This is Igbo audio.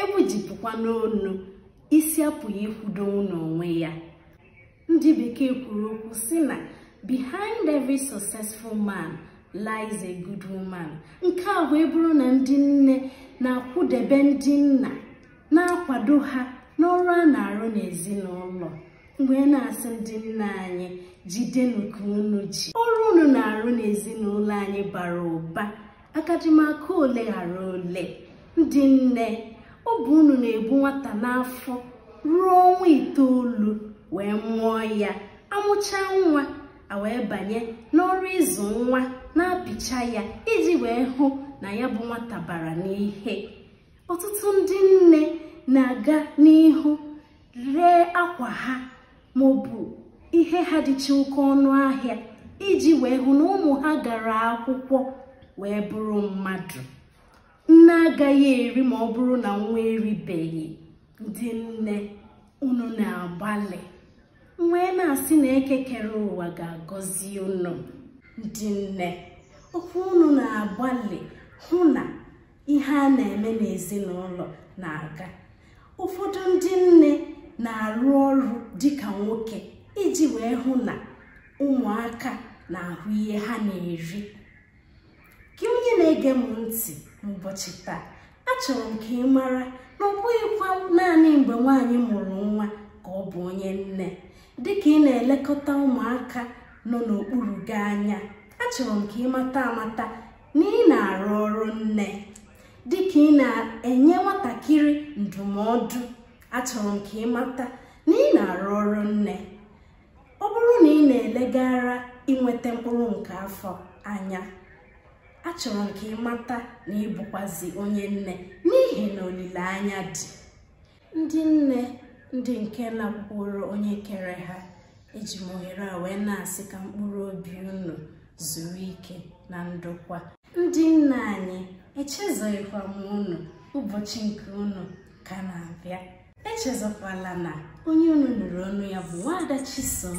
egbujipụkwa n'onu isi apụghị ịkwụdo n'onwe ya ndị bekee kwuru okwu si na behind every successful man lies a good woman nke a wee bụrụ na ndị nne na-akwụdebe ndị nna na-akwado ha n'ọrụ a na-arụ n'ezinụlọ m wee na-asị ndị nna anyị jidenụ ka unu ji ọrụ unu na-arụ n'ezinụlọ anyị bara ụba agadị m aka ole ghara ole ndị nne ọ bụ unu na-ebu nwata n'afọ ruo ọnwa itoolu wee mụọ ya amụcha nwa a wee banye n'ọrụ ịzụ nwa na-apịcha ya iji wee hụ na ya bụ nwata bara n'ihe ọtụtụ ndị nne na-aga n'ihu ree akwa ha ma ọ bụ ihe ha dịcha oke ọnụ ahịa iji wee hụ na ụmụ ha gara akwụkwọ wee bụrụ mmadụ nne agaghị eri ma ọ bụrụ na nwa eribeghị ndị nne unu na-agbalị m wee na-asị na eke kere ụwa ga-agọzi unu ndị nne ọ bụ unu na-agbalị hụ na ihe a na-eme n'ezinụlọ na-aga ụfọdụ ndị nne na-arụ ọrụ dịka nwoke iji wee hụ na ụmụaka na-ahụ ihe ha na-eri gị onye na-ege m ntị n'ụbọchị taa achọrọ m ka ị mara na ọ bụghịkwa naanị mgbe nwaanyị mụrụ nwa ka ọ bụ onye nne dịka ị na-elekọta ụmụaka nọ n'okpuru gị anya achọrọ m ka ị mata amata na ị na-arụ ọrụ nne dịka ị na-enye nwatakịrị ndụmọdụ achọrọ m ka ị mata na ị na-arụ ọrụ nne ọ bụrụ na ị na-elegara inweta mkpụrụ nke afọ anya achọrọ m ka ị mata na ị bụkwazị onye nne n'ihi na olileanya dị ndị nne ndị nke lakwuuru onye kere ha eji m ohere a wee na-asị ka mkpụrụ obi unu zuru ike na ndokwa ndị nna anyị echezoghịkwa m unu ụbọchị nke unu ka na-abịa echezọkwala na onye unu nụrụ onu ya bụ nwaada chisom